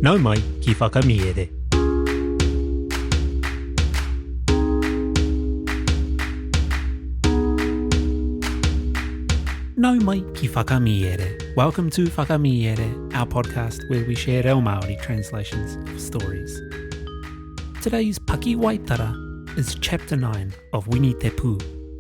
Nau mai ki Whakamiere. Nau mai ki Whakamiere. Welcome to Whakamiere, our podcast where we share reo Māori translations of stories. Today's Pakiwaitara is chapter 9 of Wini Te Pū.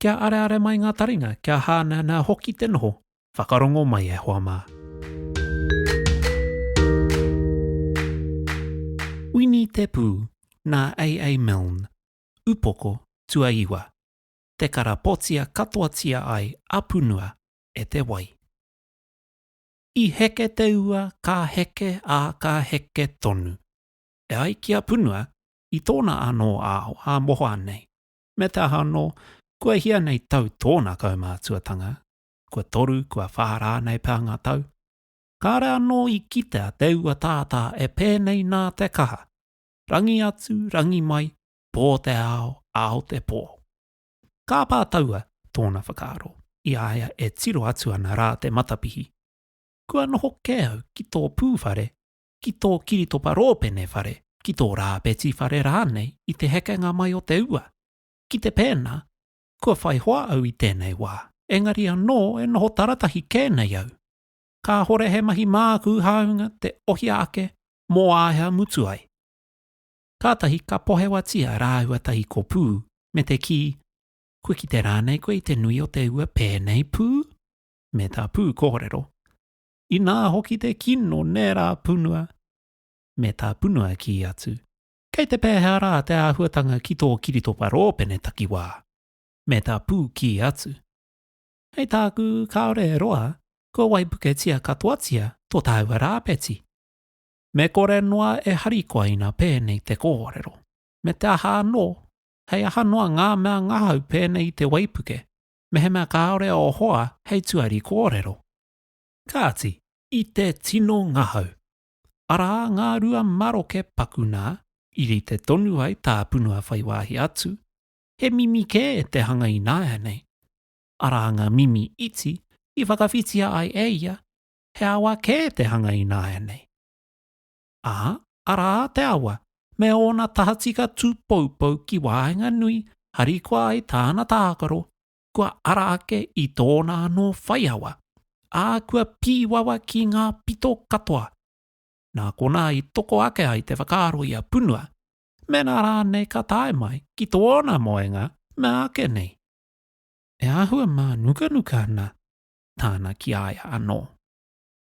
Kia areare mai ngā taringa, kia hāneanea hoki te noho. Whakarongo mai e hoa mā. Wini Te Pū, nā AA Milne, Upoko, Tuaiwa. Te karapotia katoatia ai a Punua e te wai. I heke te ua, ka heke, ā, ka heke tonu. E ai ki a Punua, i tōna anō ao ā mohoa nei, me te aha anō, kua hia nei tau tōna kaumātuatanga, kua toru, kua whā rānei pea ngā tau, kāre anō i kitea te ua tātā e pēnei nā te kaha, rangi atu, rangi mai, pō te ao, ao te pō. Kāpā taua tōna whakaaro, i a ia e tiro atu ana rā te matapihi, Kua noho kē au ki tō pū whare ki tō kiritopa rōpene whare, ki tō rāpeti whare rānei i te hekenga mai o te ua. Ki te pēnā, kua whai hoa au i tēnei wā, engari anō e noho taratahi kē nei au. Kāhore he mahi māku hāunga te ohia ake mō āhea mutu ai. Kātahi ka pohewatia rāua tahi ko Pū, me te kī, Kua kite rānei koe i te nui o te ua pēnei, Pū? Me tā Pū kōrero, Inā hoki te kino nērā punua, me tā punua kī atu, Kei te pēhea rā te āhuatanga ki tō kiritopa rōpene takiwā? Me tā pū kī atu, Hei tāku kāore e roa, kua waipuketia katoatia tō tāua rāpeti. Me kore noa e harikoa ina pēnei te kōrero. Me te aha anō, hei aha noa ngā mea ngahau pēnei i te waipuke, mehemea kāore ō hoa hei tuari kōrero. Kāti, i te tino ngahau. Arā ngā rua maroke paku nā, i rite tonu ai tā Punua whai wāhi atu, he mimi kē te hanga ināianei. Arā ngā mimi iti i whakawhitia ai e ia, he awa kē te hanga ināianei. Ā, arā te awa me ōna tahatika tūpoupou ki waenganui harikoa ai tāna tākaro, kua ara ake i tōna anō whaiawa, ā, kua pīwawa ki ngā pito katoa. Nā konā i toko ake ai te whakaaro i a Punua, mēnā rānei ka tae mai ki tōna moenga mea ake nei. E āhua mānukanuka ana tāna ki a ia anō.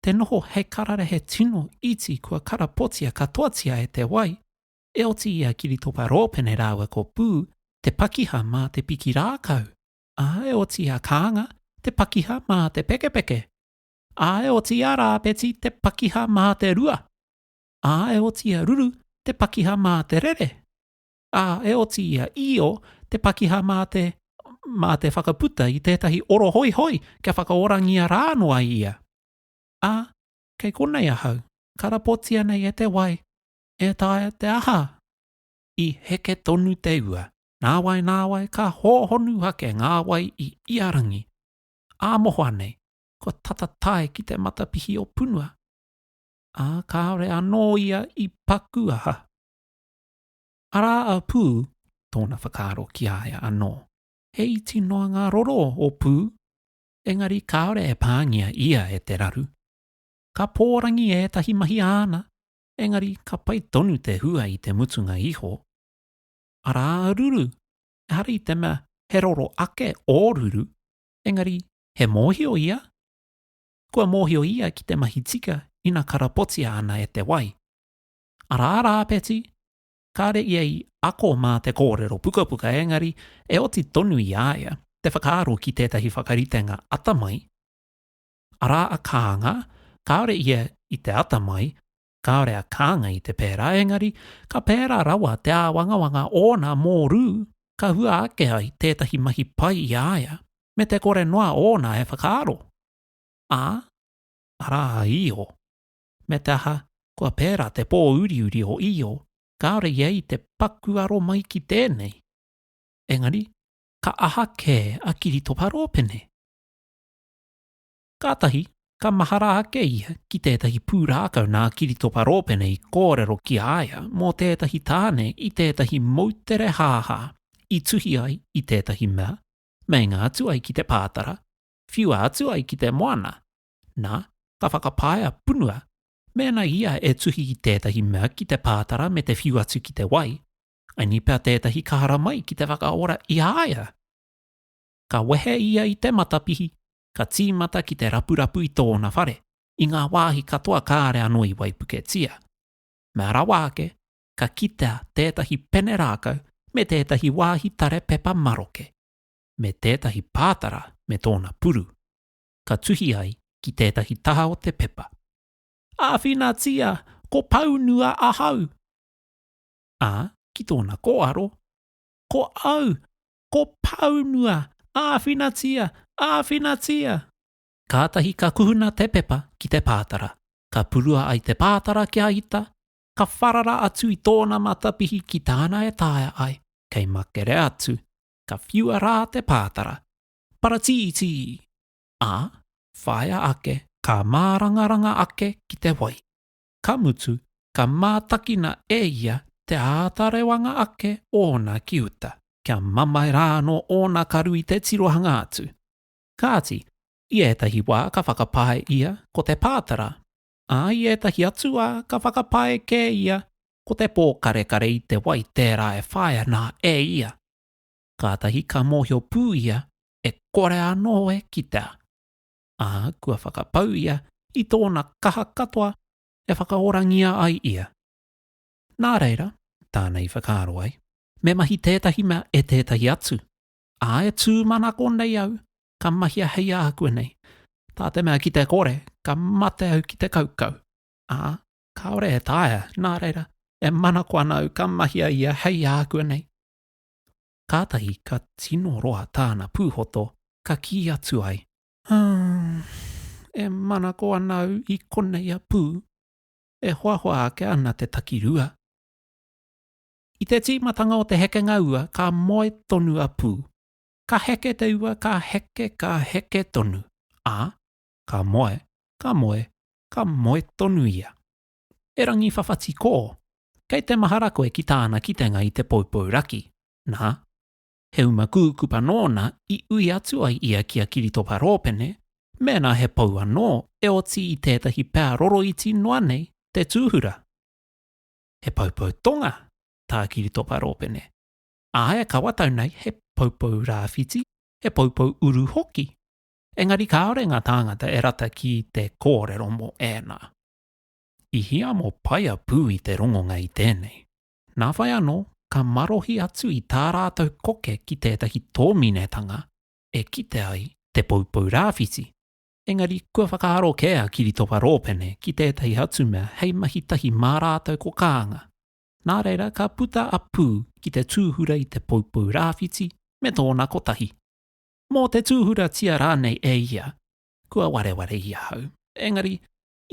Te noho hei kararehe tino iti kua karapotia katoatia e te wai, e oti i a Kiritopa Rōpene rāua ko Pū te pakiha mā te piki rākau, ā, e oti i a Kānga te pakiha mā te pekepeke, ā, e oti i a Rāpeti te pakiha mā te rua, ā, e oti i a Ruru te pakiha mā te rere, ā, e oti i a Io te pakiha mā te, mā te whakaputa i tētahi oro hoihoi kia whakaorangia rā noa ia. Ā, kei konei ahau, karapotia nei e te wai, E taea te aha? I heke tonu te ua. Nāwai, nāwai, ka hōhonu ake ngā wai i ia rangi. Ā mohoa nei, kua tata tae ki te matapihi o Punua. Ā, kāore anō ia i paku aha. Arā a Pū, tōna whakaaro ki a ia anō. He iti noa ngā roro o Pū, engari kāore e pāngia ia e te raru. Ka pōrangi ētahi mahi āna, engari ka pai tonu te hua i te mutunga iho, arā a Ruru, ehara i te mea he roro ake ō Ruru, engari he mōhio ia? Kua mōhio ia ki te mahi tika ina karapotia ana e te wai. Arā rā, Peti, kāre ia i ako mā te kōrero pukapuka engari e oti tonu i a ia te whakaaro ki tētahi whakaritenga atamai, Arā a Kānga, kāore ia i te ata mai, kāore a Kānga i te pērā, engari ka pērā rawa te āwangawanga ōna mō Rū, ka hua ake ai tētahi mahi pai i a ia, me te kore noa ōna e whakaaro. Ā, arā a Io. Me te aha, kua pērā te pō uriuri o Io, kāore ia i te paku aro mai ki tēnei. Engari, ka aha kē a Kiritopa Rōpene? Kātahi, ka mahara ake ia ki tētahi pūrākau nā Kiritopa Rōpene i kōrero ki a ia mō tētahi tāne i tētahi moutere hāhā i tuhi ai i tētahi mea, meinga atu ai ki te pātara, whiua atu ai ki te moana, nā, ka whakapaea punua mēnā ia e tuhi i tētahi mea ki te pātara me te whiu atu ki te wai, angi pea tētahi ka haramai ki te whakaora i a ia. Ka wehe ia i te matapihi, ka tīmata ki te rapurapu i tōna whare, i ngā wāhi katoa kāre anō i waipuketia. Mea rawa ake, ka kitea tētahi pene rākau me tētahi wāhi tare pepa maroke, me tētahi pātara me tōna puru, ka tuhi ai ki tētahi taha o te pepa. Āwhinatia, ko Paunua ahau! Ā, ki tōna kōaro, Ko au! Ko Pāunua! Āwhinatia! Āwhinatia! Kātahi ka kuhuna te pepa ki te pātara. Ka purua ai te pātara kia ita, ka wharara atu i tōna matapihi ki tāna e taea ai, kei makere atu, ka whiua rā te pātara. Paratītī! Ā, whāia ake, ka mārangaranga ake ki te wai. ka mutu, ka mātakina e ia te āta rewanga ake ōna ki uta, kia mamae rā anō ōna karu i te tirohanga atu. Kāti, i ētahi wā ka whakapae ia ko te pātara, ā, i ētahi atu wā ka whakapae kē ia ko te pōkarekare i te wai tērā e whai ana e ia. Kātahi ka mōhio pū ia e kore anō e kitea. ā, kua whakapau ia i tōna kaha katoa e whakaorangia ai ia. Nā reira, tāna i whakaaro ai, me mahi tētahi mea e tētahi atu, ā, e tūmanako nei au ka mahia hei āhua nei, tā te mea ki te kore ka mate au ki te kaukau, ā, kāore e taea, nā reira, e manako ana au ka mahia ia hei āhua nei. kātahi ka tino roa tāna pūhoto, ka kī atu ai, Ā, e manako ana au i konei a Pū, e hoahoa ake ana te takirua. I te tīmatanga o te hekenga ua ka moe tonu a Pū. Ka heke te ua, ka heke, ka heke tonu, ā, ka moe, ka moe, ka moe tonu ia. E Rangiwhawhati Kō, kei te mahara koe ki tāna kitenga i te poupou raki, nā, he uma kūkupa nōna i ui atu ai ia ki a Kiritopa Rōpene mēnā he pou anō e oti i tētahi pea roroiti noa nei te tūhura. He poupou tonga tā Kiritopa Rōpene, ā, e kawatau nei he poupou rāwhiti, he poupou uru hoki. Engari kāore ngā tāngata e rata ki te kōrero mō ēnā. I hiamo paia pū i te rongonga i tēnei. Nā whai anō, ka marohi atu i tā rātou koke ki tētahi tōminetanga e kite ai te poupou rāwhiti, engari kua whakaaro kē a Kiritopa Rōpene ki tētahi atu mea hei mahi tahi mā rātou ko Kānga. Nā reira, ka puta a Pū ki te tūhura i te poupou rāwhiti me tōna kotahi. Mō te tūhuratia rānei e ia, kua wareware i ahau, engari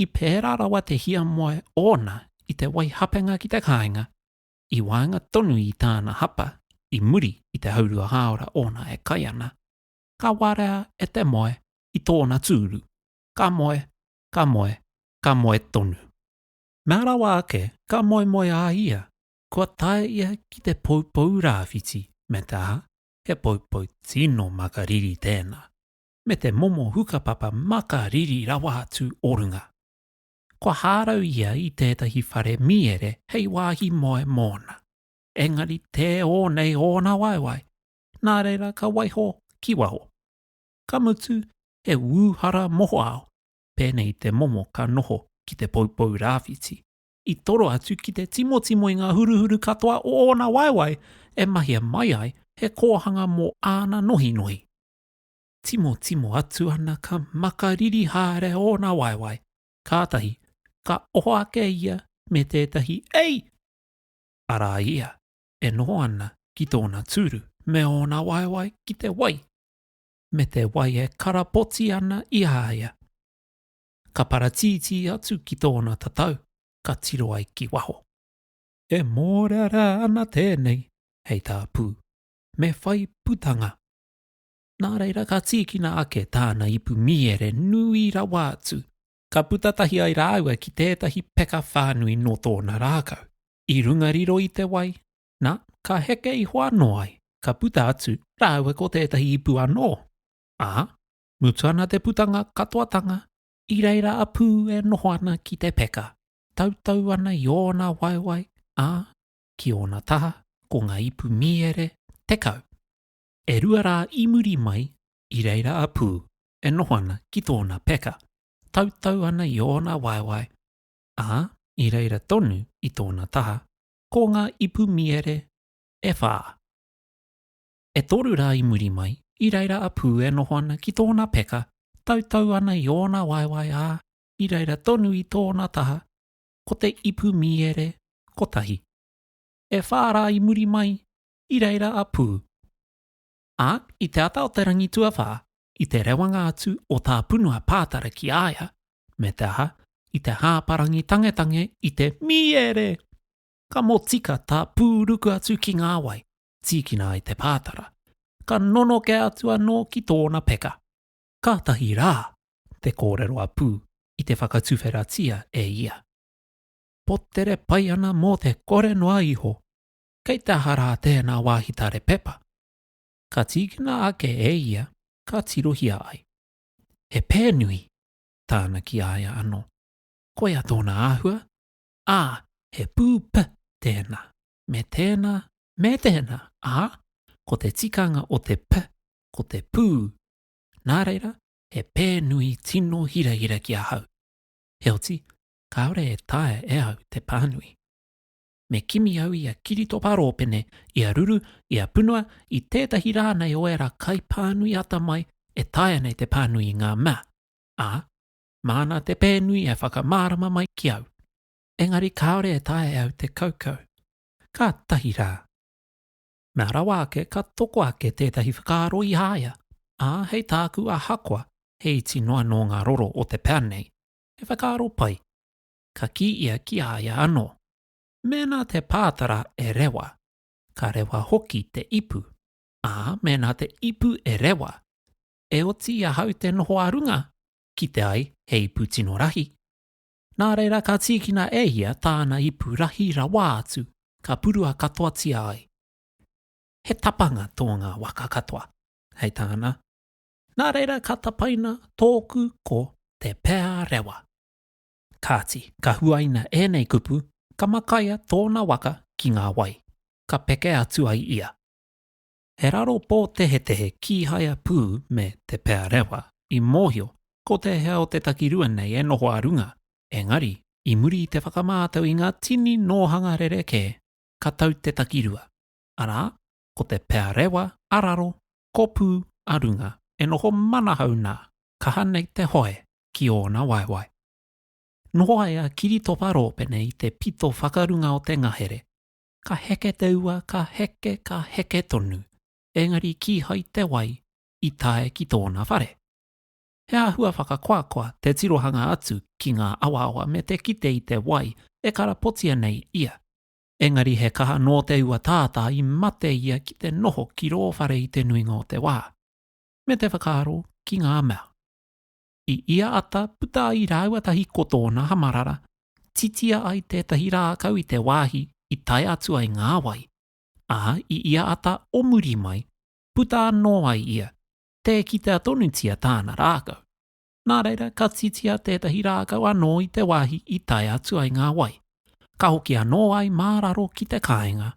I pērā rawa te hiamoe ōna i te wai hapenga ki te kāinga, i waenga tonu i tāna hapa i muri i te haurua hāora ōna e kai ana, ka warea e te moe i tōna tūru, ka moe, ka moe, ka moe tonu. Nā rawa ake ka moemoe a ia, kua tae ia ki te poupou rāwhiti me te aha, he poupou tino makariri tēnā, me te momo hukapapa maka riri rawa atu o runga. Kua hārau ia i tētahi whare mīere hei wāhi moe mōna, engari tē ō nei ōna waewae, nā reira ka waiho ki waho. Ka mutu he ūhara mohoao, pēnei te momo ka noho ki te poupou rāwhiti, i toro atu ki te timotimo i ngā huruhuru katoa o ōna waewae e mahia mai ai he kōhanga mō āna nohinohi. Timotimo atu ana ka makariri haere ōna waewae, kātahi ka oho ake ia me tētahi Ei! Arā ia e noho ana ki tōna tūru me ōna waewae ki te wai, me te wai e karapoti ana i a ia. Ka paratītī atu ki tōna tatau ka tiro ai ki waho. E mōrearea ana tēnei hei tāpū, me whai putanga, Nā reira ka tīkina ake tāna ipu mīere nui rawa atu, ka puta tahi ai rāua ki tētahi peka whānui nō tōna rākau, i runga riro i te wai, nā, ka heke iho anō ai, ka puta atu rāua ko tētahi ipu anō, ā, mutu ana te putanga katoatanga, i reira a Pū e noho ana ki te peka, tautau ana i ōna waewae, ā, ki ōna taha ko ngā ipu mīere tekau. E rua rā i muri mai, i reira a Pū e noho ana ki tōna peka, tautau ana i ōna waewae, ā, i reira tonu i tōna taha, ko ngā ipu miere e whā. E toru rā i muri mai, i reira a Pū e noho ana ki tōna peka, tautau ana i ōna waewae, ā, i reira tonu i tōna taha, ko te ipu miere kotahi. E whā rā i muri mai, i reira a Pū. Ā, i te ata o te rangi tuawhā, i te rewanga atu o tā Punua pātara ki a ia, me te aha, i te hāparangi tangetange i te mīere! Ka motika tā Pū ruku atu ki ngā wai, tīkina ai te pātara, ka nonoke atu anō ki tōna peka. Kātahi rā! te kōrero a Pū i te whakatuwheratia e ia. Potere pai ana mō te kore noa iho. kei te aha rā tēnā wāhi tare pepa? Ka tīkina ake e ia ka tirohia ai. He pēnui! tāna ki a ia anō. Koia tōna āhua, ā, he pū p tēnā, me tēnā, me tēnā, ā, ko te tikanga o te p ko te pū. Nā reira, he pēnui tino hirahira ki ahau. Heoti, kāore e taea e au te pānui. me kimi au i a Kiritopa Rōpene, i a Ruru, i a Punua, i tētahi rā nei o ērā kaipānui atamai e taea nei te pānui i ngā mea, ā, māna te pēnui e whakamārama mai ki au. Engari kāore e taea e au te kaukau. Kātahi rā. Mea rawa ake ka toko ake tētahi whakaaro i a ia, ā, hei tāku ahakoa he iti noa nō ngā roro o te pea nei, he whakaaro pai. ka kī ia ki a ia anō, Mēnā te pātara e rewa, ka rewa hoki te ipu, ā, mēnā te ipu e rewa, e oti i ahau te noho ā runga, kite ai he ipu tino rahi. Nā reira ka tīkina e ia tāna ipu rahi rawa atu, ka purua katoatia ai. He tapanga tō ngā waka katoa, hei tāna, Nā reira ka tapaina tōku ko Te Pea Rewa. Kāti, ka huaina ēnei kupu, ka makaia tōna waka ki ngā wai, ka peke atu ai ia. He raro pōtehetehe kīhaia pū me Te Pea Rewa i mōhio ko te hea o te takirua nei e noho ā runga, engari, i muri i te whakamātau i ngā tini nōhanga rerekē, ka tau te takirua, arā, ko Te Pea Rewa ā raro, ko Pū ā runga, e noho manahau nā, kaha nei te hoe. ki ōna waewae. Nō ai a Kiritopa Rōpene i te pito whakarunga o te ngahere, ka heke te ua, ka heke, ka heke tonu, engari kīhai te wai i tae ki tōna whare. He āhua whakakoakoa te tirohanga atu ki ngā awaawa me te kite i te wai e karapotia nei ia. Engari he kaha nō te ua tātā i mate ia ki te noho ki rō whare i te nuinga o te wā, me te whakaaro ki ngā mea. I ia ata puta ai rāua tahi ko tōna hamarara, titia ai tētahi rākau i te wāhi i tae atu ai ngā wai, ā, i ia ata o muri mai, puta anō ai ia, tē kitea tonutia tāna rākau. Nā reira, ka titia tētahi rākau anō i te wāhi i tae atu ai ngā wai, ka hoki anō ai mā raro ki te kāinga.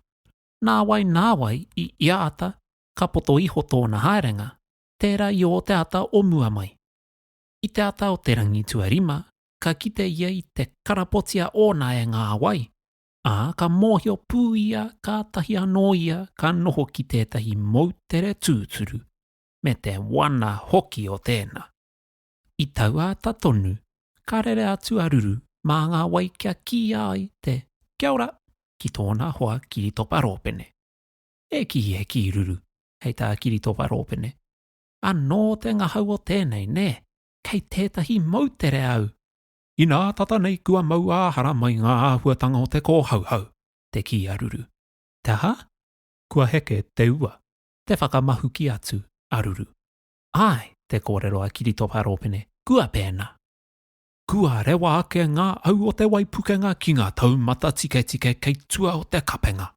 Nāwai nāwai i ia ata ka poto iho tōna haerenga, tērā i ō te ata o mua mai. I te ata o te rangi tuarima, ka kite ia i te karapotia ōna e ngā wai, ā, ka mōhio pū ia kātahi anō ia ka noho ki tētahi moutere tūturu, me te wana hoki o tēnā. I taua ata tonu, ka rere atu a Ruru mā ngā wai kia kīia ai te Kia ora! ki tōna hoa Kiritopa Rōpene. e kī, e kī ruru, hei tā Kiritopa Rōpene, Anō te ngahau o tēnei, nē, kei tētahi moutere au! Inā tata nei kua mau ā-hara mai ngā āhuatanga o te kōhauhau, te kī a Ruru. Te aha? Kua heke te ua, te whakamahuki atu a Ruru. Āe, te kōrero a Kiritopa Rōpene, kua pēnā! Kua rewa ake ngā au o te waipukenga ki ngā taumata tiketike kei tua o te kapenga.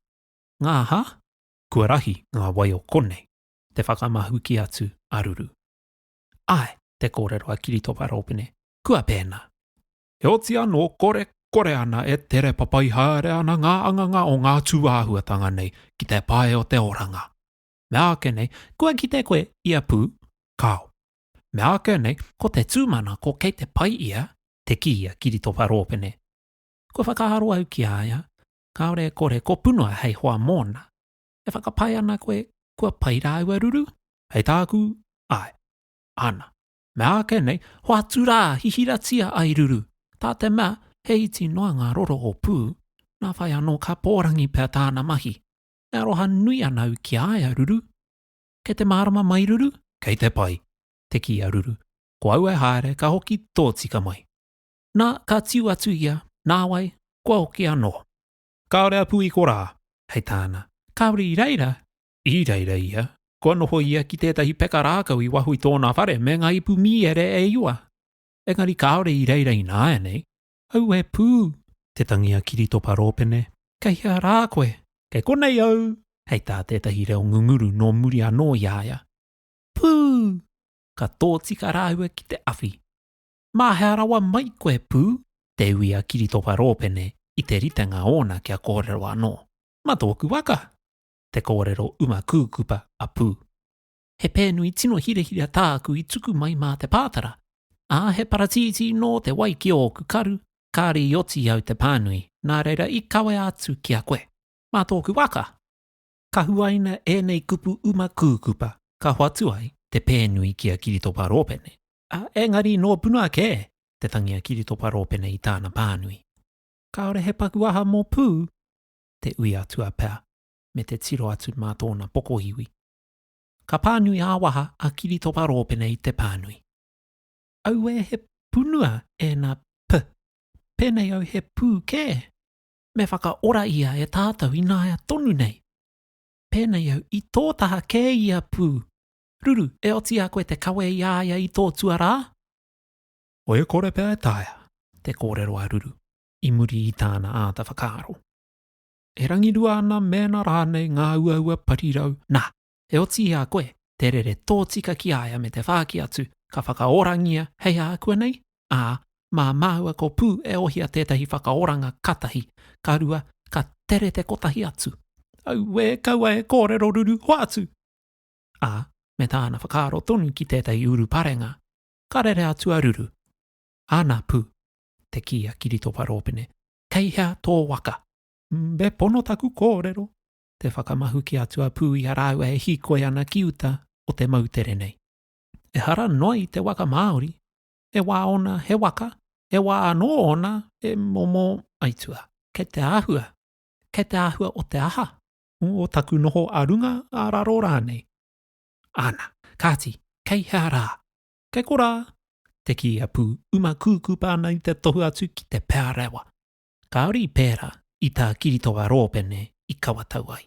Ngā hā? Kua rahi ngā wai o konei, te whakamahuki atu a Ruru. Āe, te kōrero a Kiritopa Rōpene, kua pēnā. Heoti anō, kore, kore ana e tere papai haere ana ngā anganga o ngā tūāhuatanga nei ki te pae o te oranga. Meāke nei, kua kite koe i a Pū, kāo. Meāke nei, ko te tūmanako kei te pai ia, te kī a Kiritopa Rōpene. Kua whakaaro au ki a ia, kāore e kore kō punua hei hoa mōna. E whakapae ana koe kua pai rāua ruru? Hei tāku, āe. Ana, me āke nei, hoatu rā, hihiratia ai ruru, tā te mea he iti noa ngā roro o Pū, nā whai anō ka pōrangi pea tāna mahi. E aroha nui ana au ki a ia, Ruru. Kei te mārama mai, Ruru? Kei te pai, te kī a Ruru. Ko au e haere ka hoki tōtika mai. Nā, ka tiu atu ia, nāwai, kua hoki anō. Kāore a Pūiko rā, hei tāna. Kāore i reira? I reira ia. Kua noho ia ki tētahi peka rākau i waho i tōna whare me ngā ipu mīere e iwa. Engari kāore i reira ināianei. Auē pū! Te tangi a Kiritopa Rōpene. Kei hea rā koe? Kei konei au! Hei tā tētahi reo ngunguru nō muri anō i a ia. Pū! Ka tōtika rāua ki te awhi. Mā hea rawa mai koe pū? te ui a Kiritopa Rōpene i te ritenga ōna kia kōrero anō. Ma tōku waka! te kōrero uma kūkupa a Pū. He pēnui tino hirahira tāku i tuku mai mā te pātara, ā, he paratītī nō te wai ki ōku karu, kāre i oti au te pānui, nā reira i kawea atu ki a koe. Mā tōku waka! Ka huaina ēnei kupu uma kūkupa, ka hoatu ai te pēnui ki a Kiritopa Rōpene. Ā, engari nō Puna kē te tangi a Kiritopa Rōpene i tāna pānui. Kāore he paku aha mō Pū, te ui atua pea, me te tiro atu mā tōna pokoiwi. Ka pānui ā-waha a Kiritopa Rōpene i te pānui. Auē he punua ēnā p, pēnei au he Pū kē, me whakaora ia e tātou ināia tonu nei. Pēnei au i tō taha kē i a Pū, Ruru, e oti a koe te kawe i a ia i tō tuarā? Oe kore pea e taea. Te kōrero a Ruru, i muri i tāna āta whakaaro. E rangirua ana mēnā rānei ngā uaua parirau, nā, e oti i a koe te rere tōtika ki a ia me te whāki atu ka whakaorangia hei ākuanei, ā, mā māua ko Pū e ohia tētahi whakaoranga ka tahi, ka rua, ka tere te kotahi atu. Auē, kaua e kōrero Ruru, hoatu! ā, me tāna whakaaro tonu ki tētahi uruparenga, ka rere atu a Ruru. Ana pū, te kī a Kiritopa Rōpene, kei hea tō waka? Me pono taku kōrero, te whakamahuki atu a Pū i a rāua e hīkoi ana ki uta o te moutere nei. Ehara noa i te waka Māori, he wā ōna he waka, he wā anō ōna he momo aituā. Kei te āhua, kei te āhua o te aha? o taku noho a runga, a raro rānei. Ana, kāti, kei hea rā? Kei korā! te kī a Pū, uma kūkupa ana i te tohu atu ki te pea rawa. Kāore i pērā, i tā Kiritoa Rōpene i kawatau ai.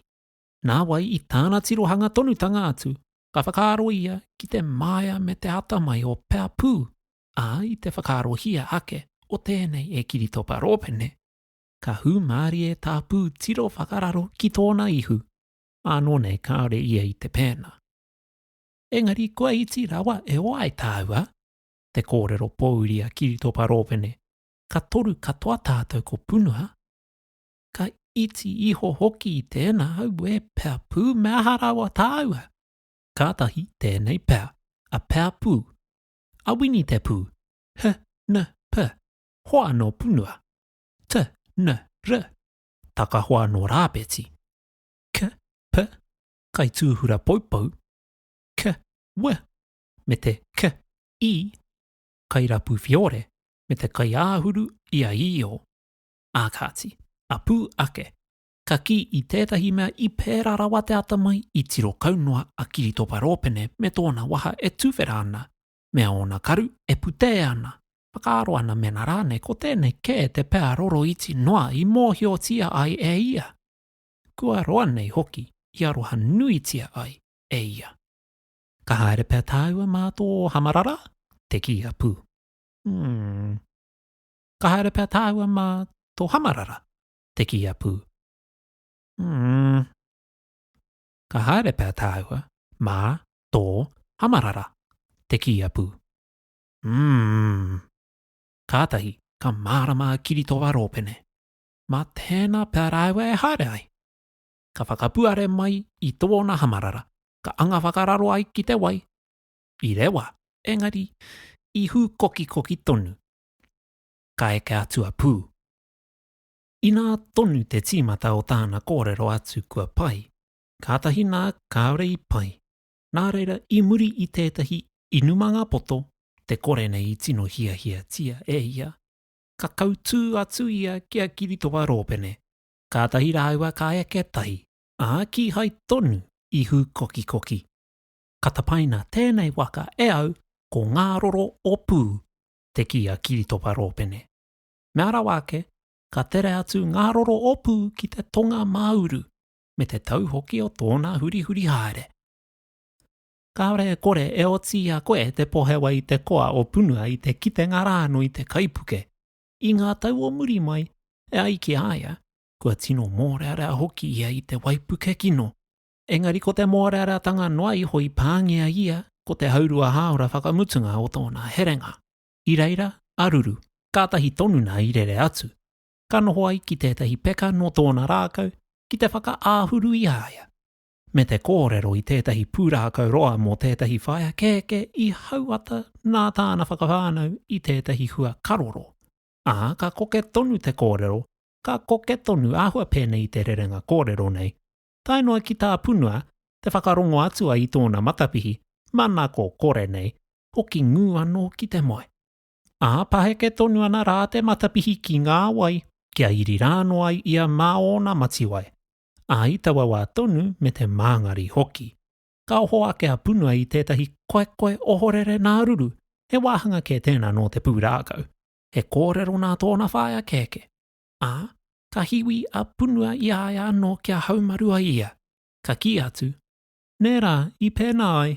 Nāwai i tāna tirohanga tonutanga atu, ka whakaaro ia ki te māia me te ata mai o Pea Pū, ā, i te whakaarohia ake o tēnei e Kiritopa Rōpene, ka hūmārie tāpū tiro whakararo ki tōna ihu, ānō nei kāore ia i te pēnā. Engari kua iti rawa e oa ai tāua, te kōrero pōuri a Kiritopa Rōpene, ka toru katoa tātou ko Punua, ka iti iho hoki i tēnā aue pea pū me aha rawa tāua. Kātahi tēnei pea, a pea pū, a Wini te pū, he, ne, pe, hoa nō Punua, t, n, r, takahoa nō Rāpeti, k, p, kaitūhura poupou, k, w, me te k, i, kairapu whiore me te kaiāhuru i a Io. Ā kāti, a pū ake, ka kī i tētahi mea i pērā rawa te atamai i tiro kau noa a Kiritopa Rōpene me tōna waha e tuwhera ana mea ōna karu e putē ana, whakaaro ana mēnā rānei ko tēnei kē te pea roro iti noa i mōhiotia ai e ia, kua roa nei hoki i aroha nuitia ai e ia. Ka haere pea tāua mā tō hamarara? te kī a Pū. Umm. Ka haere pea tāua mā tō hamarara? te kī a Pū. Umm. ka haere pea tāua mā tō hamarara te kīia pū. Umm. Kātahi ka mārama a Kiritoa Rōpene, mā tēnā pea rāua e haere ai. Ka whakapuare mai i tōna hamarara, ka anga whakararo ai ki te wai. I rewa, engari i hūkokikoki tonu. Ka eke atu a Pū. Inā tonu te tīmata o tāna kōrero atu kua pai, kātahi nā kāore i pai. Nā reira, i muri i tētahi inumanga poto te kore nei i tino hiahiatia e ia, ka kautū atu ia ki a Kiritoa Rōpene, kātahi rāua ka eke tahi, ā, kīhai tonu i hūkokikoki. Ka tapaina tēnei waka e au ko Ngāroro o Pū, te kī a Kiritoa Rōpene. Mea rawa ake, ka tere atu ngā roro opu ki te tonga māuru, me te tau hoki o tōna hurihuri haere. Kāore e kore e oti i a koe te pohewa i te koa o Punua i te kitenga rānō i te kaipuke. I ngā tau o muri mai, e ai ki a ia, kua tino mōrearea hoki ia i te waipuke kino. Engari ko te mōreareatanga noa iho i pāngia ia ko te haurua hāora whakamutunga o tōna herenga. i reira a Ruru. Kātahi tonu nā i rere atu, ka noho ai ki tētahi peka nō tōna rākau ki te whakaāhuru i a ia, me te kōrero i tētahi pūrākau roa mō tētahi whaea kēkē i hauata nā tāna whakawhānau i tētahi hua karoro, ā, ka koke tonu te kōrero, ka koke tonu āhua pēnei i te rerenga kōrero nei, tae noa ki tā Punua te whakarongo atua i tōna matapihi, manako kore nei, hoki ngū anō ki te moe. Ā, paheke tonu ana rā te matapihi ki ngā wai kia iri rānō ai ia mā ōna matiwai, ā, i taua wā tonu me te māngari hoki. Ka oho ake a Punua i tētahi koekoe ohorere nā Ruru, he wāhanga kē tēnā nō te pūrākau. He kōrero nā tōna whaea kēkē. ā, ka hiwi a Punua i a ia anō kia haumaru ai ia, ka kī atu, Nē rā, i pēnā ai!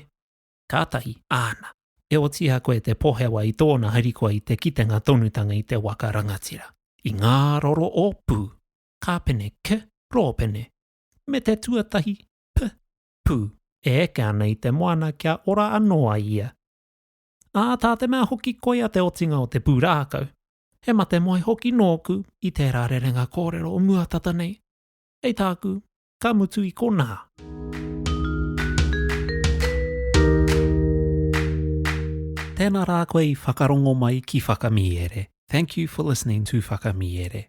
Kātahi, āna. E otiia koe te pohewa i tōna harikoa i te kitenga tonutanga i te waka rangatira, i ngā roro o Pū, Kāpene, K, Rōpene, me te tuatahi, P, Pū, e eke ana i te moana kia ora anō ai ia. Ā, tā te mea hoki koia te otinga o te pūrākau, He mate moe hoki nōku i tērā rerenga kōrero o mua tata nei. Hei tāku, ka mutu i konā. Tēnā rā koe i whakarongo mai ki Whakamiere. Thank you for listening to Whakamiere.